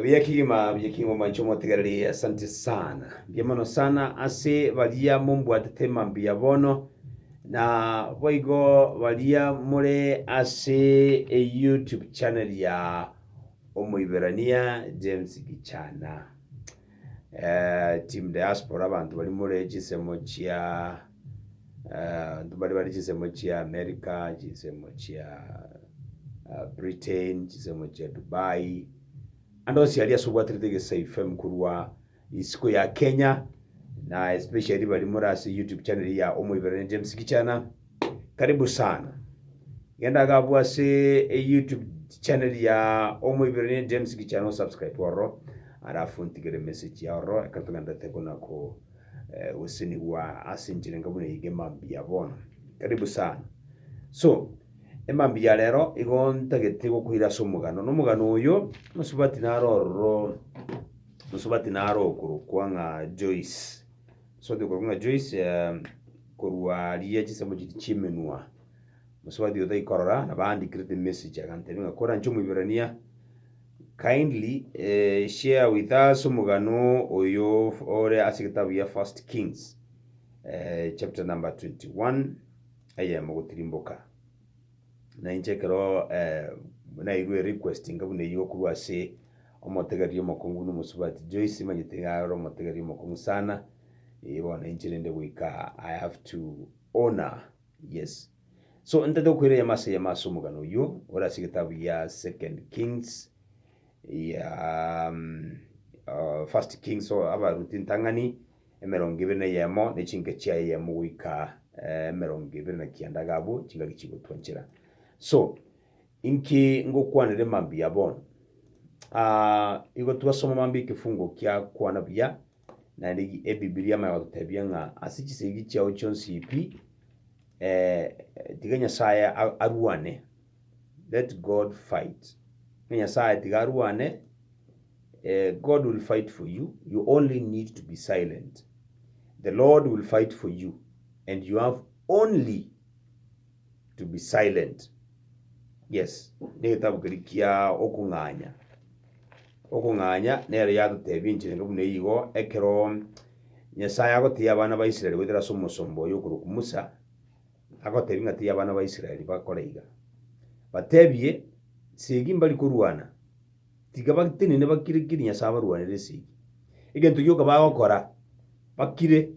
Buya kegima, buya kegima omwancha omotigereri, asante sana. Mbuya mono sana ase baria mombwatete mambia bono, na boigo baria more ase eYouTube channel ya omoiberania James Gichana. Eh, team diaspora abanto bari more chinsemo chia Abanto mbare bare chinsemo chia America, chinsemo chia ah, Britain, chinsemo chia Dubai, ande onsi aria ase obwaterete Egesesa FM korwa isiko ya Kenya, na especially bari more ase YouTube channel ya Omoiberania James Gichana, karibu sana. Genda gabu ase YouTube channel ya Omoiberania James Gichana osubscribe ororo, alafu ntigere message ya ororo, ekero togenda tokona ko gosesenigwa ase enchera enka buna eyige mambia bono. Karibu sana. So, emambia ya rero igo ntagete gokoira ase omogano. Na omogano oyo, Mosubati naro ororo, Mosubati naro okorokwa ng'a Joyce. Mosubati okorokwa ng'a Joyce, eh, korwa riria chinsemo chiria chi'emenwa. Mosubati oyo taikorora, nabo aandikire emessage agantebia ng'a koranche Omoiberania, Kindly share with us omogano oyo ore ase egetabu gia First Kings chapter number 21 eyemo gotirimboka. Na inche ekero nairwe request inga buna eyio korwa ase omotegeria omokong'u buna omosubati Joyce manyete iga ore omotegeria omokong'u sana, bono inche rende goika I have to honour Yes. So ntaete gokoira eyemo ase eyemo ase omogano oyio ore ase egetabu gia Second Kings ya uh, First Kings so abaruti ntang'ani emerongo ebere na eyemo ne chinka chiaye eyemo goika eh, emerongo ebere na kianda iga abwo chingaki chigotwanchera. So inki ngokwanera emambia bono? Ah, igo twasoma mambia ekefungo kiakwana buya Naende ki Ebibilia emanye gototebia ng'a ase chisegi chiao chionsi pi, tiga Nyasaye a- arwane, let God fight, ng'a Nyasaye tiga arwane, God will fight for you, you only need to be silent, the Lord will fight for you and you have only. to be silent. Yes, negetabu keria kia okong'anya. Okong'anya nero yatotebia enchera enge buna eyio igo, ekero Nyasaye agotiia abana ba Israel goetera ase omosomba oyo okorokwa Musa, agotebia ng'a tiga abana ba Israel bakore iga. Batebie, Esegi mbari korwana, tiga batenene bakire kiri Nyasaye abarwanere esegi. Egento gioka bagokora, bakire.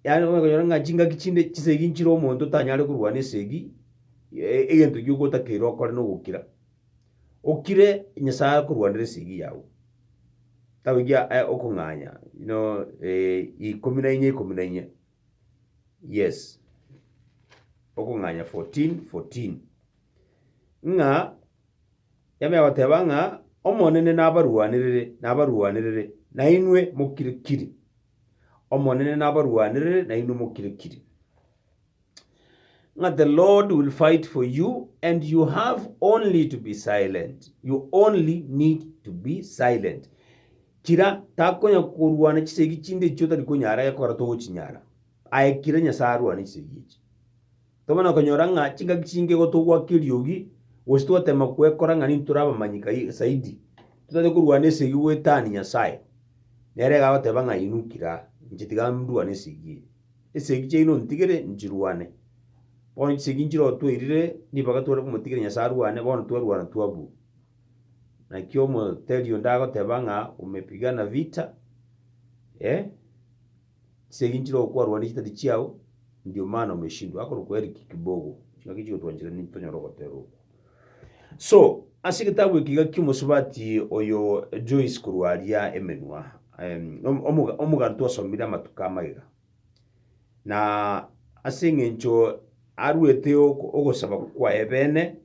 Yaani onye konyora ng'a chingaki chinde chisegi nchire omonto tanyare korwana esegi, e- egento ekio ogotakeire okore na ogokira, okire Nyasae akorwanere esegi yao. Kitabu ekiya eh okong'anya buna ikomi na inya ikomi na inya, yes, okong'anya fourteen fourteen, ng'a yabera goteba ng'a Omonene nabarwanerere nabarwanerere, nainwe mokire kiri. Omonene nabarwanere nainwe mokire-kire, ng'a the Lord will fight for you and you have only to be silent, you only need to be silent. Kira takonya korwana chisegi chinde echio otari konyara gekora togochinyara. Aye kira Nyasae arwane chisegi echi. Toba na konyora ng'a chingaki chinge igo togwaka eriogi, gose togotema kwekora ng'a nintore abamanyika zaidi, totaete korwana esegi goetania Nyasae. Nere iga agoteba ng'a inwe kira inche tiga ndwane esegi eye. Esegi chiaino ntigere nchirwane. Bono chisegi nchirotweirire ribaga tware komotigera Nyasae arwane, bono twerwana twabua. Naki omoteri onde agoteba ng'a umepigana vita, eh. Chisegi nchire okwarwa nechitati chiao, ndio maana omeshindwa akorokwa Eric Kibogo. Ching'aki chigotwanchera ninto tonyare ogotera okwo. So, ase egetabu eke iga ki'omosubati oyo Joyce korwa aria emenwa, em, om- omoga- omoganto osomire amatuko amagega. Na ase eng'encho aruete ok- ogosaba kwaye bene,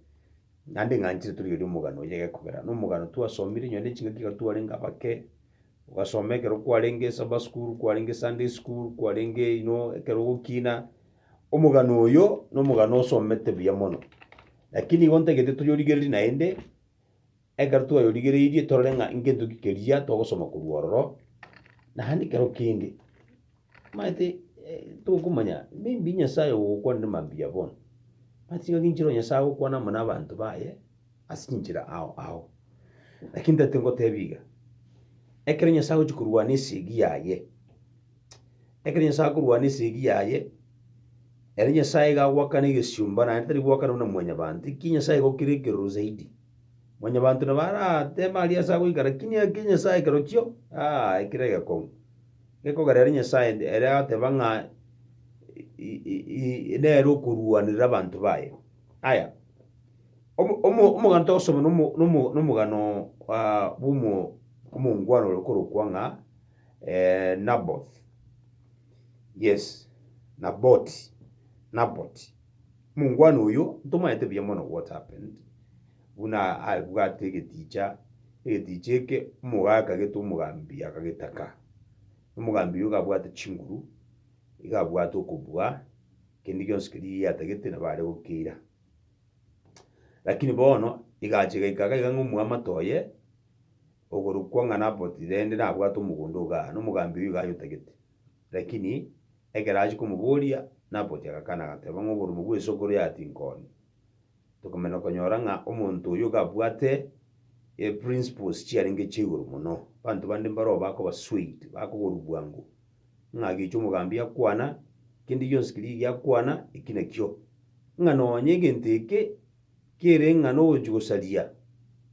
naende ng'a nchire torigereria omogano oye gekogera. Na omogano twasomire onye ne ching'aki iga twarenge abake, ogasoma ekero kwarenge Sabbath school, kwarenge Sunday school, kwarenge you know, ekero ogokina. Omogano oyo, na omogano osomete buya mono. Lakini igo ntagete toyorigererie naende, ekero twayorigereirie torore ng'a ngento ki keria togosoma korwa ororo, naende ekero kende. Maete tokomanya maybe Nyasae ogokwana ne mambia bono. Maete tiga ginchero Nyasae agokwana amo nabanto baye ase chinchera ao ao. Lakini totete ngotebie iga, ekero Nyasae agochia korwana esegi yaye, ekero Nyasae akorwana esegi yaye, ere Nyasae iga agoakana egesiomba naende tari goakana buna mwanyabanto, ekiya Nyasae igo kere ekeroro zaidi. Mwanyabanto nabo arateme aria ase agoika lakini ekiya Nyasae kerochio, aa ekere egekong'u. Gekogerera ri Nyasae inde, ere agoteba ng'a nere okoruanera abanto baye. Aya, omo- omo- omoganta ogosomi nomo- nomo- nomogano bw'omo omongwana ore okorokwa ng'a Naboth, yes, Naboti, Naboti. Omongwana oyo, ntomanyete buya mono what happened, Buna abwate egetiicha, egetiicha eke omogaaka akageta omogambi akagetaka. Omogambi oyo iga abwate chinguru, iga abwate okobua, kende gionsi keria eyi atagete nabo are gokeira. Lakini bono egacha egaika iga iga ng'a omwamate oye, ogorokwa ng'a Naboti rende nabwate omogondo o gaa, na omogambi oyo iga ayotagete. Lakini ekero achia komoboria, Naboti agakana agateba ng'a oborimo bw'esokoro ya tinkoonia. tokomanya konyora ng'a omonto oyio iga abwate eprinciples chiarenge chia igoro mono. Abanto bande mbaroo bakoba swayed, bakogorwa bwango, ng'a agecha omogambi akwana, kende gionsi keria egiya akwana, eki nakio. Ng'a nonye egento eke, kere ng'a nogochia gosaria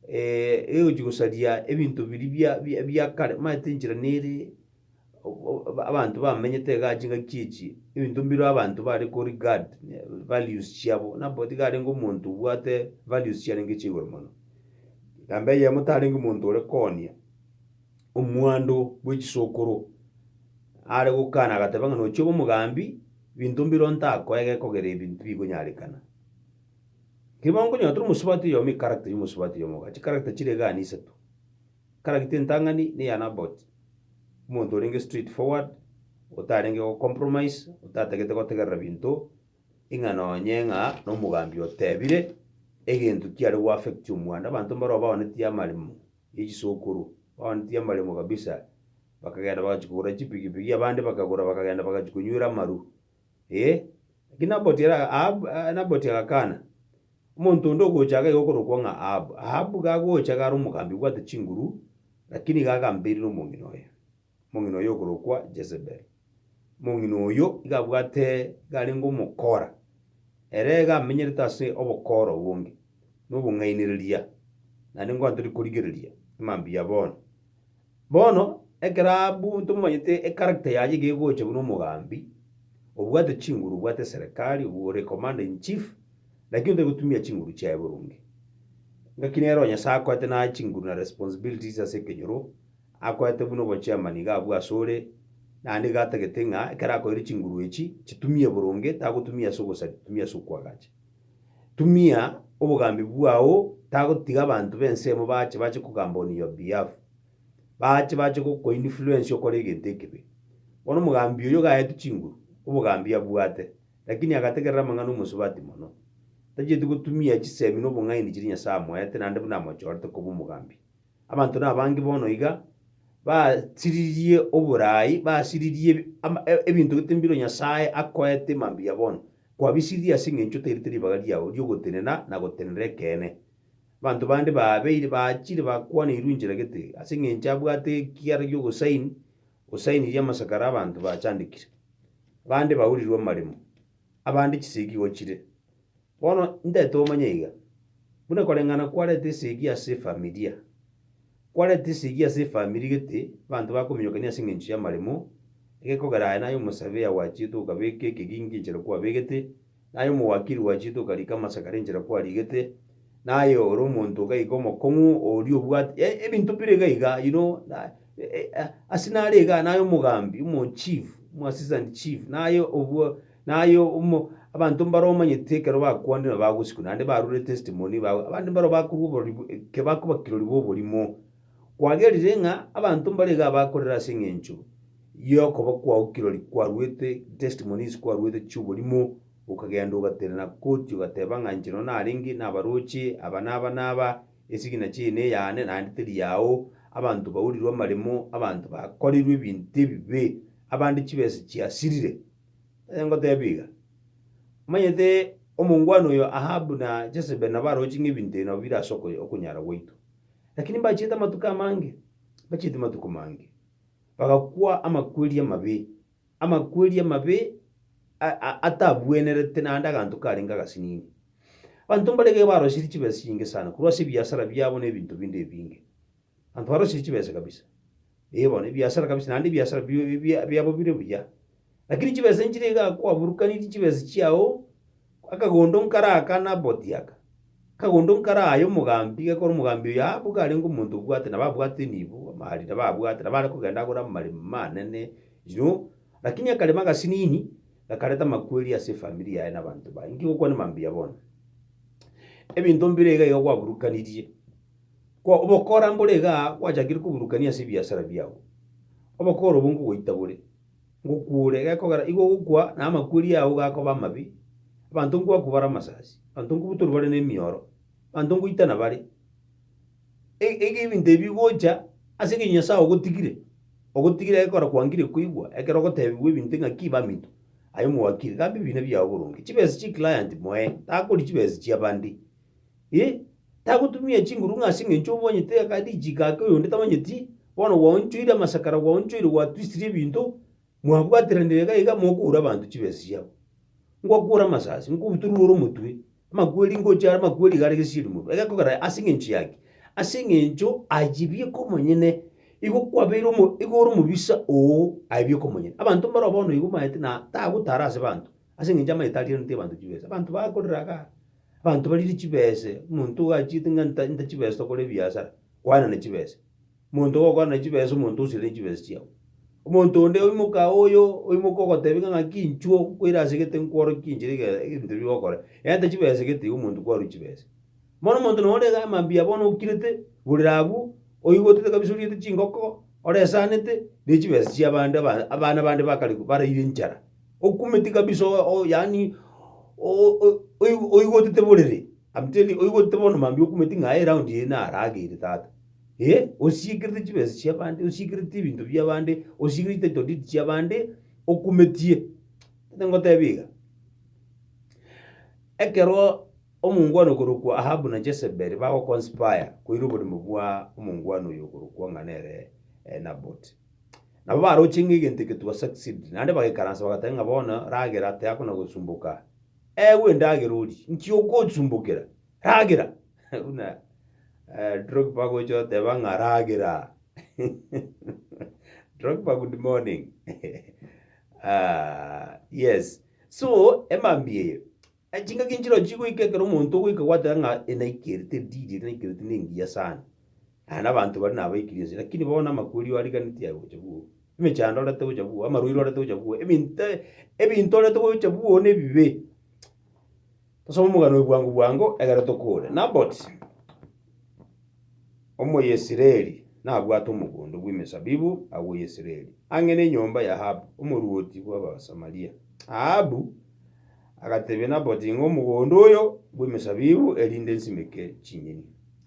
egochia gosaria ebinto biria bia bia kare, omanyete enchera nere. abanto bamenyete igaa chingaki chichi, ebinto mbireo abanto bare ko regard values chiabo, nabo tiga arenge omonto obwate values chiarenge chia igoro mono. Namba eyemo tarenge omonto ore koonia omwando bwe chisokoro, are gokana agateba ng'a nochi obe omogambi, binto mbireo ntakoe gekogera ebi tibikonyarekana. Keri bono okonyora tore omosubati oyomo echaracter ya omosubati oyomo igaa, chicharacter chire igaa nisato. Character entang'ani neya Naboti, omonto orenge straight forward, otarenge go compromise, otatagete gotegerera binto ing'a nonye ng'a nomogambi otebire egento kiare go affect omwando. Abanto mbaro baonetie amaremo ya chisokoro, baonetie amaremo kabisa, bakagenda bagachia kogora chipigipigi, abande bakagora bakagenda bagachia konywera amaru. ee, lakini Naboti ara, Ahabu, ah, Naboti agakana. Omonto onde ogocha iga iga okorokwa ng'a Ahabu. Ahabu iga agocha iga are omogambi obwate chinguru, lakini iga agamberire omong'ina oye, omong'ina oye okorokwa Jezebel. Omong'ina oyio iga abwate, iga arenge omokora, ere iga amenyerete ase obokora obonge, na obong'ainereria, naende ingo atoria korigereria mambia bono. Bono, ekero abwo ntomanyete echaracter yaye iga egocha buna omogambi, obwate chinguru, obwate eserekari, obu ore commander in chief, lakini otari gotumia chinguru chiaye boronge. Ngaki nero Nyasaye akoete naye chinguru na responsibilities ase ekenyoro, akoete buna obo chairman iga abwo ase ore, naende iga atagete ng'a ekero akoeire chinguru echi, chitumie boronge, tagotumia ase ogosaria, tumia ase okwagacha. Tumia obogambi bwao tagotiga abanto b'ensemo baache bache kogamba on your behalf, baache bache gokoinfluence okore egento ekebe. Bono omogambi oyio gaetwe chinguru, obogambi abwate, lakini agategerera amang'ana omosubati mono. Tachieti gotumia chisemi na obong'aini chiria Nyasae amoete naende buna amochorete koba omogambi. Abanto nabange bono iga basiririe oboraai, basiririe ebi- ama- e- ebinto gete mbiro Nyasae akoete mambia bono. Kwabisiririe ase eng'encho otairete ribaga riao riogotenena na gotenena ekeene. Abanto bande babeire bachire bakwaneirwe inchera gete, ase eng'encho abwate ekiara gi'ogosaini, osainirie amasakara 'abanto bachandekire. Bande baurirwe amaremo, abande chisegi gochire. Bono ntaete omanye iga, buna koreng'ana kwarete esegi ase efamilia, kwarete esegi ase efamilia gete abanto bakominyokania ase engencho y'amaremo, egekogera aye naye omosabeya gwachiete okabeka ekegingi enchera kwabegete, naye omowakiri gwachiete okarika amasakara enchera kwarigete, naye ore omonto gaiga omokong'u oria obwate yaani ebinto bire iga iga you know na ase nare iga naye omogambi omo chief, omo assistant chief naye obwo. Na aye omo, abanto mbaro omanyete ekero bakwanire na bagosikwa, naende barure testimony, ba, abande mbaro bakorwa oborori, eke bakoba kirori bw'oborimo. Kwagerire ng'a abanto mbare iga abakorera ase eng'encho y'okoba kwao kirori kwaruete, testimonies kwaruete chi'oborimo, okagenda ogaterana koti ogateba ng'a inche nonya narenge nabaroche aba na aba na aba, esigina chiaye neyane naende teri yao, abanto baurirwe amaremo, abanto bakorirwe ebinto ebibe, abande chibesa chiasirire. Onye ngoteebia iga, omanyete omongwana oyo Ahabu na Jezebeli nabo aroche ng'a ebinto ebi nabo bire ase okonyara gwaito. Lakini mbachiete amatuko amange, mbachiete amatuko mange, bagakwa amakweri amabe, amakweri amabe atabwenerete naende aganto karenge agasinini. Abanto mbaraiga barosirie chibesa chinyinge sana korwa ase ebiasara biabo na ebinto binde ebinge. Abanto barosie chibesa kabisa, ee, bono ebiasara kabisa, naende ebiasara bia- bi- bi- biabo bire buya. Lakini chibesa nchire iga kwaburukanirie chibesa chiao, akagondo nkare aka Naboti aka, akagondo nkare aya omogambi, gekora omogambi oyo aa boka arenge omonto obwate, nabo abwate nibo, amahari nabo abwate, nabo are kogenda agore amaremo manene, you know. Lakini akarema agasinini, gakareta amakweri ase efamiri yaye na abanto baye. Inki gokwana mambia bono? Ebinto mbire iga iga kwaburukanirie. Kwa obokora mbore iga gwachakire koburukania ase ebiasara biao, obokora obwo nkogoita bore, ngokuure, gekogera igo ogokwa na amakweri ao gakoba amabe, abanto nkoakwa bare amasasi, abanto nkobutorwa bare nemioro, abanto nkoitana bare. E- eke ebinto ebi bigocha ase eng'encho Nyasae ogotigire, ogotigire gekogera kwangire koigwa ekero ogotebigwa ebinto ng'aki baminto, aye mwakire, gamba ebina biao boronge, chibesa chia eclient moe, takori chibesa chiabande. Ee, tagotumia chinguru ng'a ase engencho obwanyete aka richiko ake oyonde tamanyeti, bono gwaonchoire amasakara, gwaonchoire, gwatwisirie ebinto, mwabwateranire iga iga mokoura abanto chibesa chiabo. Ngwakuura amasasi, nkobutoruore omotwe, amakweri ngochie are amakweri iga are gesieri morwa. Egekogera ase engencho yaki, ase engencho ayio bieka omonyene, igo kwabeire omo igo ore omobisa oo, aye bieka omonyene. Abanto mbaro bono igo maete na tagotara ase abanto, Ase engencho amaete arigeretie abanto chibesa, abanto bakorire iga, abanto bariire chibese, omonto oachete ng'a nta nta chibesa tokore ebiasara, kwanana chibesa. Omonto gokwana chibesa omonto osirie chibesa chiao. Omonto onde oimoka oyo oimoka ogoteba ng'a ng'aki inchuo nkoira asegete nkworokia enchera ege ebinto bire gokora, egento chibesa egete iga omonto kwarwa chibesa. Bono omonto nore iga mambia bono okirete igoro riabu, oigotete kabisa oriete chingoko, oresanete, ne chibesa chi'abande aba abana bande bakare baraire enchara, okumeti kabisa o- o yaani o- o oigo oigotete borere, am telling oigotete bono mambia okumeti ng'a aye eraundi eye naro ageire tata, eh, osiekerete chibesa chi'abande, osiekerete ebinto bi'abande, osiekerete title deed chi'abande, okumetie, tata ngotebi iga, ekeroo. Omongwana okorokwa Ahabu na Jezebeli bagoconspire koira oborimo bwa omongwana oyo okorokwa ng'a nere Naboti. Nabo baroche ng'a egento egetuba succeed, naende bagaikaransa bagateba ng'a bono ragera teakona gosumboka. Ewe endagera orie, nki ogosumbokera? Ragera! Buna Drogba gocha oteba ng'a ragera. Drogba good morning. Yes. So emambia eye, Chingaki nchirochio chigoika ekero omonto ogoika gwateba ng'a enaika ere terdidi ere naika ere tinengiya sana. Aye nabanto bare nabaikire ense lakini bono amakweri oariganeti aye gocha bwoo. Emechando orente gocha bwoo, amarwaire orente gocha bwoo, ebinto ebinto orente gocha bwoo na ebibe. Tosome omogano oye bwango bwango egere tokore. Naboti, omoyesreri nabwate omogondo bw'emesabibu agwo Yesreri, ang'e nenyomba y'Ahabu, omorwoti bw'Abasamaria. Ahabu. Agatebia Naboti ng'a omogondo oyo bw'emesabibu erinde nsimeke chinyeni,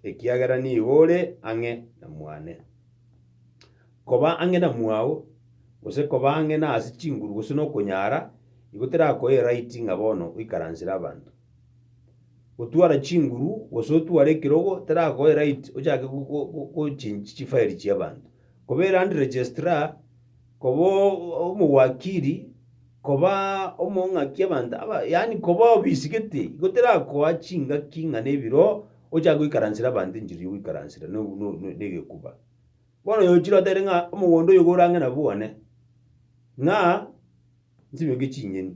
ekiagera nigo ore ang'e na mwane. Koba ang'e na mwao, gose koba ang'e nase chinguru gose nokonyara, igo terakoe eraiti ng'a bono oikaransere abanto. Gotwara chinguru gose otware ekerogo terakoe eraiti ochake go- go- go- gochenchi chifairi chi'abanto. Kobera unregistered. Koba omowakiri, koba omong'aki abanto aba, yaani koba obisigete, igo terakoa chingaki ng'a nebiro ochake goikaransera abanto enchiri y'ogoikaransera na obu- no- no- negekuba. Bono yochire otere ng'a omogondo oyo iga orange nabwo one, ng'a nsimeke ching'eni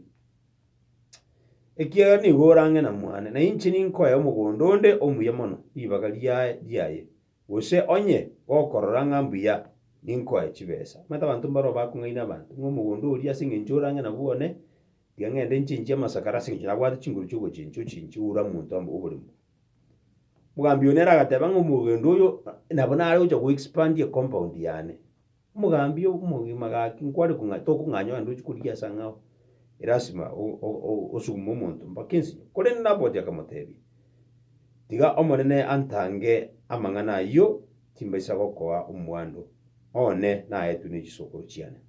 ekiagera nigo orange na mwane, na inche ninkoe omogondo onde omuya mono ribaga riaye riaye. Gose onye gokorora ng'a mbuya ninkoe chibesa, omanyete abanto mbareo bakong'aina abanto, ng'a omogondo oria ase engencho ore ang'e nabwo one, tiga ng'ende nchinchie amasakare ase engencho nabwate chinguru chi'ogochincha ochinchie oura monto amo oborimo. Mogambi oyo nere agateba ng'a omogendo oyo nabo nare gocha go expand ecompound yane. Omogambi omogima gaki, nkware kong'a tokong'anya onde ochia korigia ase ang'e ao, elasima osugume omonto mpaka ensinyo. Korende Naboti akamotebia, Tiga Omonene antange amang'ana ayio, timbaisa gokoa omwando one naetwe ne chisokoro chiane.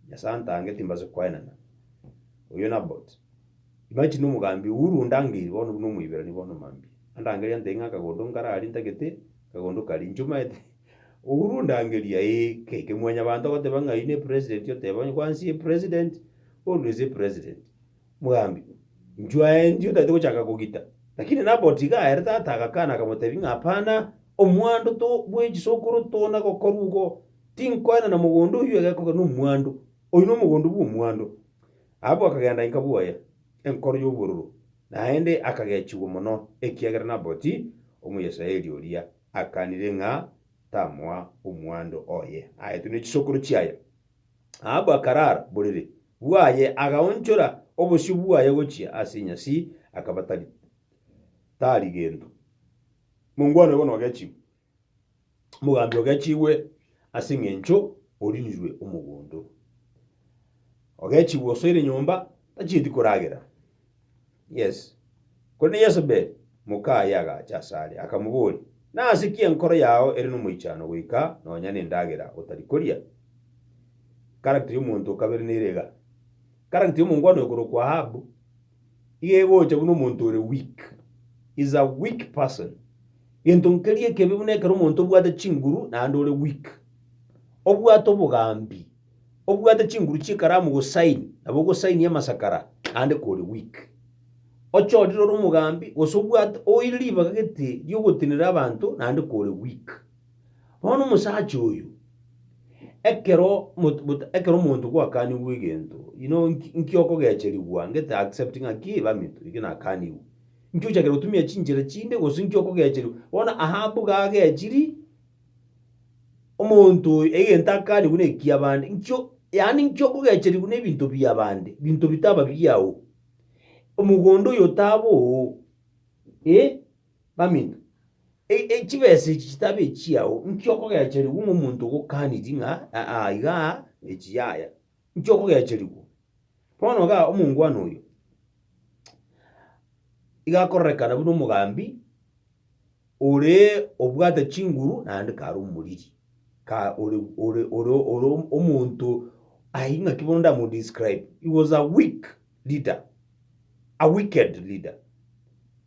Nyasae antange, timbaisa koenana. Oyio Naboti. Imagine omogambi Uhuru ondangeiri bono buna omoiberani bono mambia. Andangeria antebi ng'a akagondo nkararie ntagete, akagondo karia. Inche omanyete. Uhuru ndangeria ee keke mwanyabanto agoteba ng'a aine president oteba onye kwansi ee president always ee president mogambi nchwa endi otaete gochaka kogita lakini nabot iga ere tata agakana akamotebi ng'a hapana omwando to bwe chisokoro tona gokorwa igo tinkoenana mogondo oyio egekogera na omwando oyio na omogondo bwa omwando abwo akagenda inka bwoye enkoro ya obororo naende akagechigwa mono ekiagera nabot omuyesraeli oria. akanire ng'a tamoa omwando oye aetwe ne chisokoro chiaye. Ahabu akarara boriri bwaye, agaonchora obosio bwaye gochia ase enyasi, akaba tari tari gento. Mongwana oye bono ogechigwe, omogambi ogechigwe ase eng'encho orinirwe omogondo. Ogechigwe osoire nyomba, tachieti koragera. Yes. Korende Yesebeli, mokaaye agacha asare, akamoboria, Nase ki enkoro yao ere nomoichano goika nonya nendagera otari koria? Karagita y'omonto o kabere nere iga. Karagita y'omongwana oyo korokwa Ahabu, iga egocha buna omonto ore weak. Is a weak person. Gento nkeria ekebe buna ekero omonto obwate chinguru naende ore weak. Obwate obogambi. obwate chinguru chi'ekaramu gosaini nabo ogosainia amasakara ande kore weak. Ochorire ore omogambi gose obwate oire ribaga gete ri'ogotenera abanto naende kore weak. Bono omosacha oyo ekero ekero omonto gwakanigwe egento you know inki okogecherigwa ngete accept ng'aki bamito eki nakanigwe. Inki ochakire gotumia chinchera chinde gose inki okogecherigwa bono Ahabu gagechiri Omonto oyo egento akarigwe nekia bande, nkio yaani nkio okogecherigwe nebinto bia bande, binto bitaba biao. Omogondo oyo otaba oo, eh, baminto. E- e- chibesa echi chitaba echiao, nkio okogecherigwe ng'a omonto ogokanirie ng'a aa iga echi yaya. inki okogeacherigwa? Bono igaa omongwana oyo, iga akororekana buna omogambi oree obwate chinguru naende kare omoriri, ka ore ore ore ore omonto aye ng'aki bono ndamodescribe, he was a weak. leader, a wicked leader.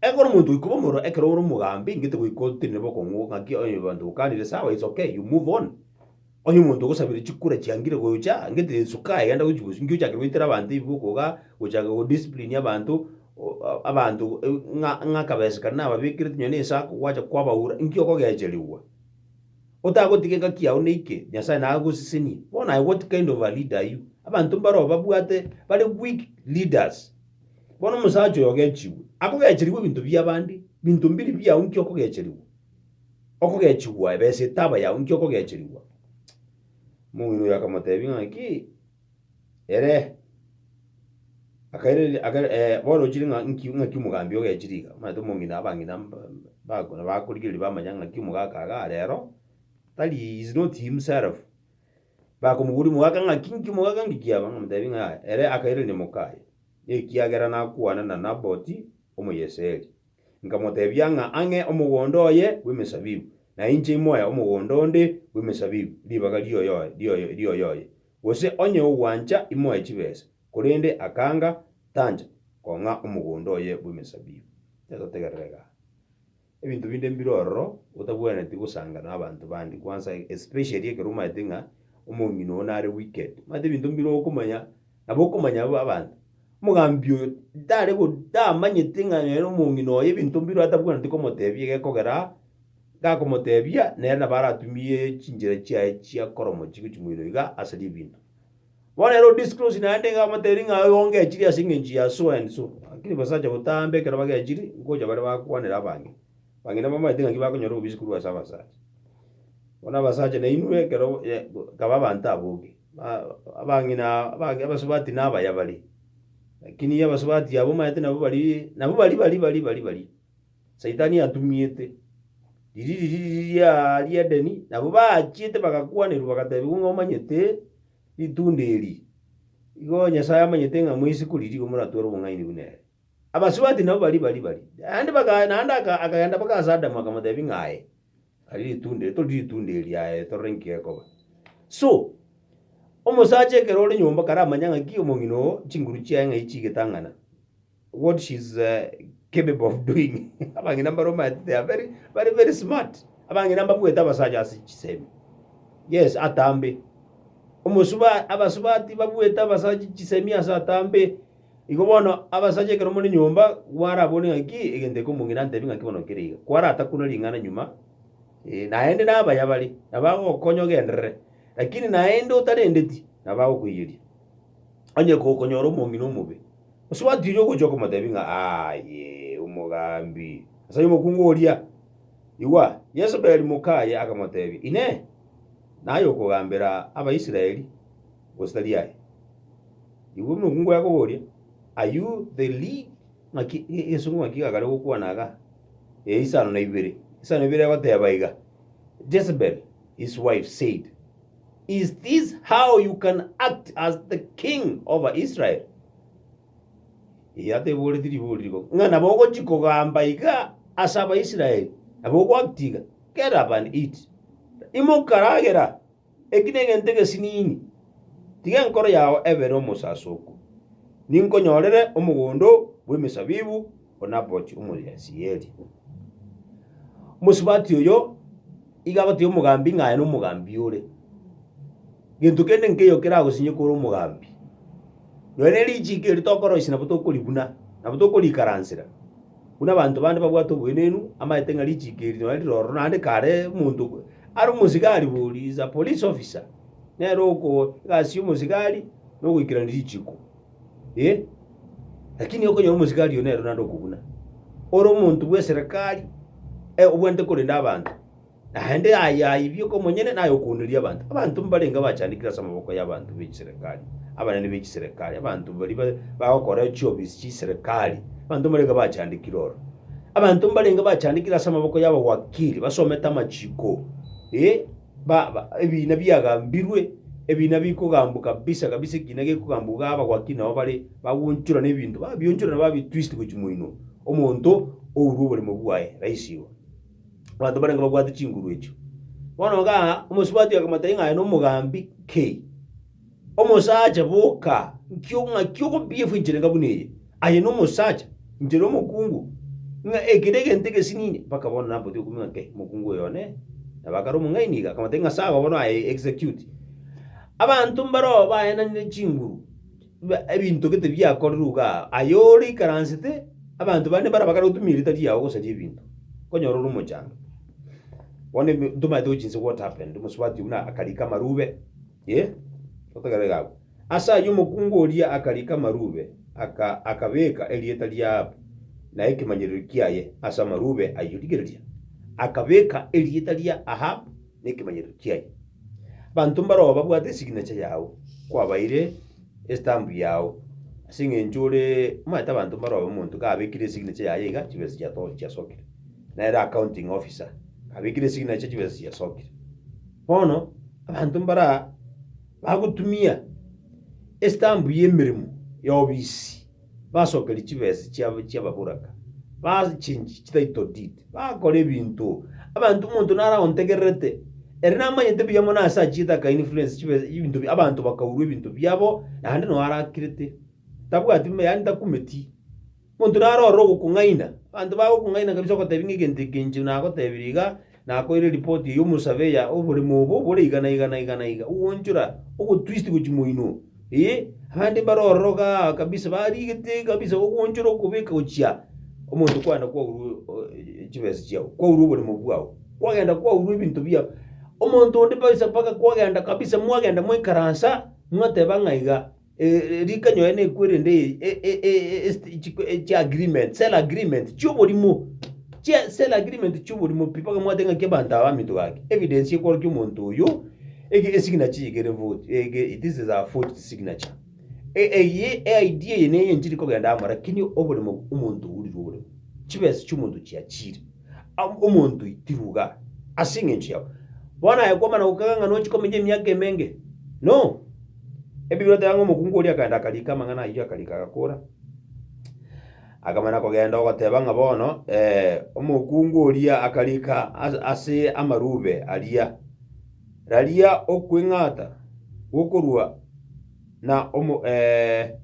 Ekero omonto oikoba omorero ekero ore omogambi ngete goika otiri na bokong'u ng'aki onye abanto bokanire sawa it's okay you move on. Onye omonto ogosabire chikura chiangire gocha ngete Yesu kae genda gochi bosio inki ochake goitera abanto ebiboko igaa gochaka go discipline abanto abanto ng'a ng'a akabesa kare nababekerete nonya na esako gwacha kwabaura inki okogecherigwa. Otagotiga egaki yao neike, Nyasae nagosesenie. Bona I what kind of a leader are you? Abanto mbaroo babwate bare weak leaders. Bono omosacha oyo ogechigwe, akogecherigwa ebinto biabande, binto mbiri biao nki okogecherigwa? Okogechigwa ebesa etaba yao nki okogecherigwa? Omong'ina oyo akamotebia ng'aki, Ere akairereria aka eh, bono ochire ng'a nki ng'aki omogambi ogechire iga, omanyete omong'ina abang'ina mb- mb- bako nabakorigereria bamanya ng'aki omogaka iga arero, tari is not himself. Bakomoboria omogaka ng'aki nki omogaka nki kiaba, ng'amotebi ng'a ere akairanera mokaye, ekiagera nakwana na Naboti Omoyesreli. Nkamotebia ng'a ang'e omogondo oye bw'emesabibu, na inche imoe omogondo onde bw'emesabibu, ribaga rioyoe rioyo rioyoye. Gose onye ogwancha imoe chibesa, korende akanga tancha kong'a omogondo oye bw'emesabibu. Inche totegerere iga. Ebinto binde mbire ororo otabwenereti gosanga nabanto bande kwansa especially ekero omanyete ng'a omong'ina oo nare wicked. Omanyete ebinto mbire okomanya nabo okomanya bo abanto. Omogambi oyo tare go tamanyete ng'a nere omong'ina oye ebinto mbire atabwenereti komotebia egekogera Gakomoteebia, nere nabo aratumie chinchera chiaye chia koromochi gochia moino iga ase ribindo. Bono ere odisclose naende iga amoteebie ng'a igo ngechiri ase engencho ya so and so. Lakini abasacha botaambe ekero bagechiri, ngocha bare bakwanere abang'ina. Abang'ina bamanyete ng'aki bakonyora obobisi korwa ase abasacha. Bono abasacha nainwe ekero nkaba abanto aboke, abang'ina abage abasubati nabaya bare, lakini abasubati abwo omanyete nabo baria, nabo baria baria baria baria baria. Saitani atumiete, riririri ria ri'Edeni, nabo baachiete bagakwanerwa bagatebiwa ng'a omanyete ritunda eri, igo Nyasae amanyete ng'a moise koriria igo moratware obong'aini buna ere. Abasubati nabo baria bari bari, naende baka naende aka akagenda mpaka ase Adamu akamotebia ng'a aye, aria ritunda eri toririe ritunda eri aye torore nki gekoba. So, omosacha ekero ore nyomba karamanya ng'aki omong'ina oo chinguru chiaye ng'ai chigetang'ana. what she's uh, capable of doing abang'ina mbaroma they are very very very smart abang'ina mbabuete abasaja ase chisemi yes atambe omosuba abasubati babuete abasaja chisemi ase atambe igo bono abasaja ekero muri nyomba gwara abone ng'aki egento eke omong'ina antebi ng'aki bono kere iga kwara atakuna ring'ana nyuma eh, naende nabaya bari nabagokonya ogenderere lakini naende otarendeti nabagokoiyeria onye gokonyora omong'ina omobe Gose gwatiria ogochia okomotebia ng'a aye omogambi ase omokungu oria? Igwa, Yesebeli mokaye akamotebia, Inee! Naye okogambera Abaisraeli, gose tari aye? Igwa omokungu akoboria, Are you the league? Ng'aki egesongo ng'aki iga kare gokwana iga? Ee, isano na ibere. Isano na ibere egoteba iga, Jezebel his wife said, Is this how you can act as the king over Israel? Eyo ateboreti ribori rigo, ng'a nabo ogochi kogamba iga ase Abaisraeli, nabo ogoact iga, get up and eat. Imoka ragera, eki negento egesinini, tiga enkoro yao ebere omosaso oko. Ninkonyorere omogondo bw'emesabibu o Naboth Omoyesieri. Mosubati oyo iga agotebia omogambi ng'a aye nomogambi ore. Gento kende nkeiyo keragosinyoke ore omogambi, nonya ne richiko eri tokoroisia nabo tokoribuna, nabo tokorikaransera, buna abanto bande babwate oboenenu, amaete ng'a richiko eri nonya rire ororo naende kare omonto ko are omosigari bori is a police officer, nere okoa egasi y'omosigari nogoikerania richiko. Eh, lakini okonyora omosigari oyo nero naende okoguna. Ore omonto bw'eserekari, eh, obwenerete korenda abanto. Naende aye aibia okomonyene naye okouneria abanto. Abanto mbarenge bachandekire ase amaboko y'abanto b'echiserekari, abanene b'echiserekari, abanto baria ba- bagokora chiofisi chiserekari, abanto mbarenge bachandekire oro. Abanto mbarenge bachandekire ase amaboko y'abawakiri basomete amachiko, eh. ba, ba, ebiina biagambirwe, ebiina bikogambwa kabisa kabisa, ekiina gekogambwa iga abagwaki nabo bare bagonchora na ebinto, babionchora na babitwist gochia moino, omonto ourwe oboremo bwaye rahisi igo. Abanto barenge babwate chinguru echio. Bono igaa, omosubati akamotebia ng'a aye nomogambi ki? Omosacha, boka! Ng'aki okobiefwa encherenga buna eye? Aye nomosacha, inche nomokungu, ng'a eke negento egesinini. Mpaka bono nampoti okomi ng'a nkae omokungu oyo one, na bakare omong'aini iga, akamotebia ng'a sawa bono aye execute. Abanto mbaroo baenanire chinguru, ebinto gete biakorerwe iga aa, aye ore ikaransete, abanto bande mbaria bakare gotumia eritari yao gosaria ebinto, nkonyora ore omochango. Bono ntomanyete gochi inse what happened, omosubati oyio buna akarika amarube. Yee, totegerere agwo. Ase ayio omokungu oria akarika amarube, aka, akabeeka erieta ri'Ahabu na ekemanyererio kiaye ase amarube ayio. Rigereria, akabeeka erieta ria Ahabu na ekemanyererio kiaye. Abanto mbaroo babwate esignature yao, kwabaire estamp yao, ase eng'encho ore omanyete abanto mbaroo omonto kabekire esignature yaye iga chibesa chiato chiasokire. Nere accounting officer, kabekire esignature chibesa chiasokire. Bono abanto mbare aa bagotumia estambu y'emeremo y'obisi, basokerie chibesa chiabo chi'ababoraka, ba change chititle deed, bakora ebinto abanto omonto naro aontegererete, ere namanyete buya mono ase achiete aka influence chibesa ebinto bia abanto bakaurwa ebinto biabo, naende noo arakirete, tabwati yaani takumeti. Monto naro ororo ogokong'aina, abanto bagokong'aina kabisa ogotebi ng'a egento eke inche nagotebirie iga, nakoeire eripoti eye y'omosabe ya oboremo obo bore iga na iga na iga na iga, ogoonchora ogotwist gochia moino oo, ee, abande mbare ororo igaa kabisa barigete kabisa ogoonchora okobeka gochia omonto kwagenda kwaurwa chibesa chiago, kwaurwa oboremo bwao, kwagenda kwaurwa ebinto biao. Omonto onde kabisa mpaka kwagenda kabisa mwagenda mwaikaransa, mwateba ng'a iga. Rikanyoe nekwerende chiagreement, sell agreement, chioborimo, chia sell agreement chioborimo pi, bakamwateba ng'aki abanto aba baminto gaki, evidence ekworokia omonto oyo, ege esignature eye kere vote, ege this is a forged signature. E- eyie eID eye neye nchiri kogenda amo, lakini oboremo omonto ourirwe oboremo, chibesa chiomonto chiachire. Ab- omonto oitiruga ase engencho yabo. Bono aye kwamana gokega ng'a nochi komenya emiaka emenge? No! Ebibirwe teba ng'a omokungu oria akaenda akariika amang'ana ayio akariika agakora. Akamana kogenda ogoteba ng'a bono eh, omokungu oria akariika as- ase amarube aria, Raria okweng'ata gokorwa na omo eh,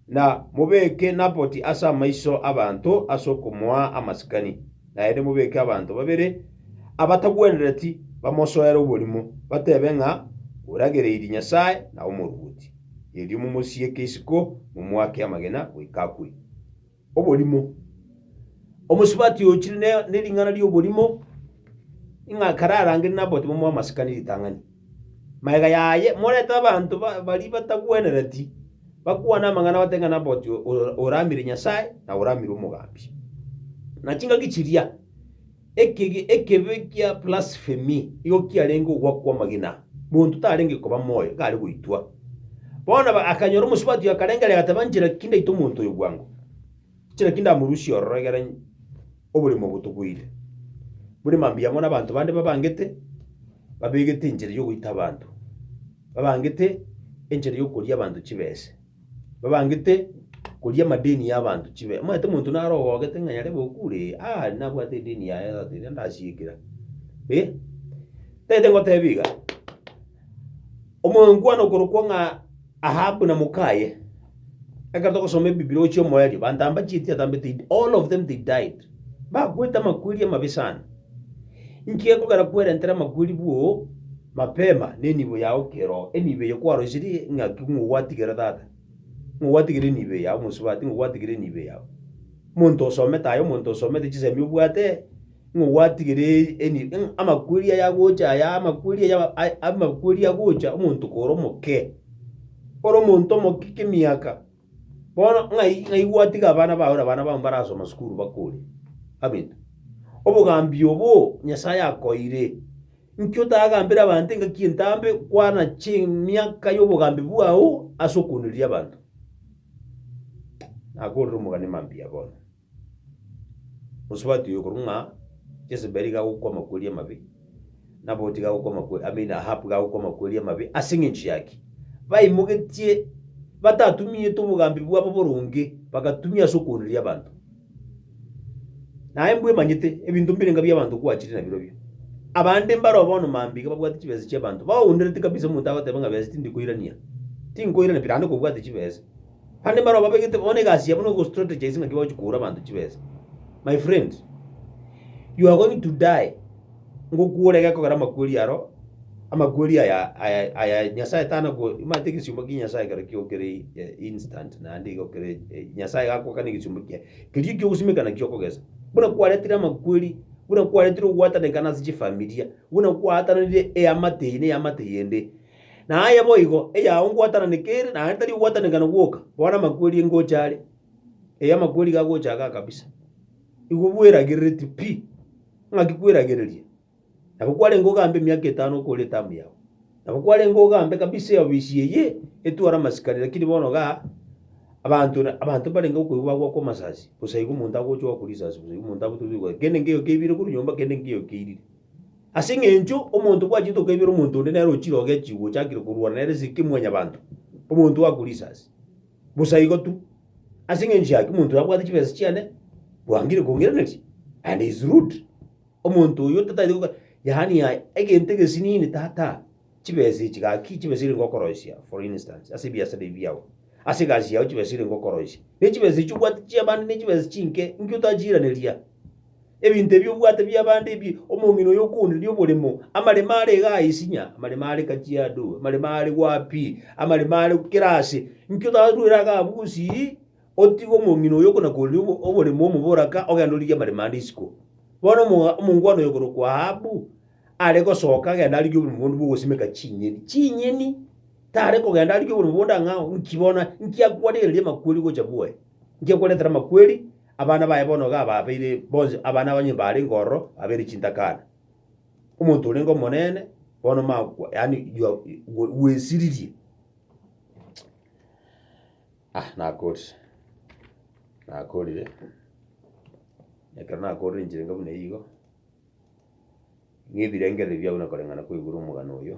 Na mobeke Naboti ase amaiso 'abanto ase okomoa amasikani, naende mobeke abanto babere abatagwenereti bamosoere oborimo, batebe ng'a, Oragereirie Nyasae na omoruoti. Erio momosieke isiko, momoake amagena goika akwe. Oborimo. Omosubati oyo ochire ne- nering'ana ri'oborimo, ng'a kararangere Naboti bamoe amasikani ritang'ani. Magega yaye morete abanto baria batagwenereti bakwane amang'ana bate ng'a Naboti oraamire Nyasae na oraamire omogambi. Na chingaki chiria, ekegi ekebe kia blasphemy igo kiarenge ogwa kw'amagena, monto tarenge koba moyo gare goitwa. Bono akanyora omosubati oyo akarengereria agateba, Nchera ki ndaite omonto oyo bwango? Naki ndamorusie ororo egere oborimo botoboire bore mambia amo nabanto bande babangete, babegete enchera yogoita abanto, babangete enchera yokoria abanto chibese, babangete koria amadeni ya abanto chibese. Omanyete omonto naro ogogete ng'a yarebe okure ee, aa nabwate edeni yaye tata eria ndasiekera eh. Tagete ngoteba iga, omoyo nkwane okorokwo ng'a. Ahabu na mokaye, ekero togosoma Ebibilia gochia omoerio, bantamba chieti atambete id, all of them they died. Bakwete amakweri amabe sana. Inki gekogera kwerentera amakweri bwoo mapema nenibo yao kero enibo eye kwaroisirie ng'aki ng'o gwatigera tata. Ng'o gwatigera enibo eye yao mosubati ng'o gwatigera enibo eye yao. Monto osomete aye omonto osomete chisemi obwate. ng'o gwatigereiri eni- ng'a amakweri aya agocha aya amakweri aya aba- a- amakweri agocha omonto koro omoke, ore omonto omoke kemiaka, bono ng'ai ng'ai gwatiga abana bago na abana bao mbarasoma sukuru bakure abinto. Obogambi oboo Nyasaye akoeire, nki otagambera abanto engaki entambe kwana chimiaka y'obogambi bwao ase okooniria abanto? Nakorire omogani mambia bono. Gose batuye korwa ng'a Jezebeli iga agokwa amakweri amabe, Naboti iga agokwa amakwe, I mean Ahabu iga agokwa amakweri amabe ase eng'encho ya ki? Baimogetie batatumiete obogambi bwabo boronge, bagatumia ase okooneria abanto. Naye mbwemanyete ebinto mbire ng'a bi'abanto kwachire nabirobio. Abande mbaro bono mambia iga babwate chibesa chi'abanto, baoonerete kabisa omonto agoteba ng'a besa tindi koirania, tinkoirania pi naende kobwate chibesa. Bande mbaro babegete bono egasi yabo nogo strategize naki bagochi koura abanto chibesa. My friend, you are going to die ngokwore gekogera amakweri aro, amakweri aya aya aya Nyasaye tana ko omanyete egesiyomba kia Nyasaye ekero kiokire eh, instant naende igo kere eh, Nyasaye gakoka na egesiyomba kiaye keria ekiogosimeka naki okogesa. Buna kwaretire amakweri, buna kwaretire ogwatanekana ase chifamilia, buna kwaatananire eamate eye na eamate eyende, Na aye boigo, eyao ngwatananeka ere, naende tari ogwatanekana gwoka, bono amakweri engocha are, ee, amakweri iga agocha igaa kabisa. Igo bweragerereti pi, ng'aki kweragereria? Nabo kwarenge ogambe emiaka etano okore etamu yao, nabo kwarenge ogambe kabisa eofisi eye etware amasikani, lakini bono igaa, abanto na abanto mbarenge gokoigwa bagwakwa amasasi, bosa igo omonto agocha ogwakwa risasi bosa igo omonto abotwe bigwa kende nkeiyo keibire korwa nyomba kende nkeiyo keirire. Ase engencho omonto bwachete okoibera omonto onde nere ochire ogechi gochakire korwana nere ase ki mwanyabanto, omonto oakure risasi? Bosa igo tu. Ase engencho yaki omonto oyo abwate chibesa chiane, bwangire kongiraneria, and he is rude. Omonto oyio tataete goka, yaani yaani egento egesinini tata. Chibesi echi gaki chibesi erenge okoroisia, for instance, ase ebiasara ebi biao. Ase egasi yao chibesi erenge okoroisia. Ne chibesi echi obwate chia abande ne chibesi chinke, inki otachiiraneria? Ebinto ebi obwate bia abande ebi, omong'ina oyo okoonderia oboremo, amaremo are iga aa isinya, amaremo are Kajiado, amaremo are wapi, amaremo are kera ase, inki otaruere iga abwo gosii, otige omong'ina oyo okonakoonderia obo- oboremo omobore aka, ogende origie amaremo ande isiko? Bono omo- omongwana oyo okorokwa Ahabu. are gosoka agende arigie obomogondo bw'ogosimeka chinyeni, chinyeni, tare kogenda arigie obomogondo ang'e ao, nki bono, nki akwarereria amakweri gocha bwoye? Nki akwaretera amakweri? Abana baye bono iga ababeire bonsi, abana abanyene barenge ororo, babeire chintakana. Omonto orenge omonene, bono omakwa, yaani you are bwe- bwesiririe. Ah, nakorire, nakorire, ekero nakorire enchera enga buna eyio igo, ng'ebirengererio biabo na koreng'ana kwaigure omogano oyo,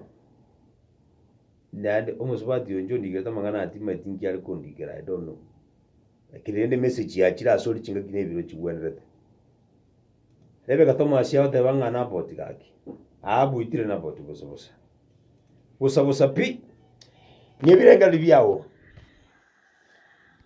naende omosubati oyo inche ondigerete amang'ana aya timanyeti inki are kondikera I don't know. Lakini rende emessage yachire ase ore chingaki na ebiro chigwenerete. Nebe egatomo asia goteba ng'a na about gaki, abu itire na about bosa bosa. Bosa bosa pi, ng'ebirengererio biago.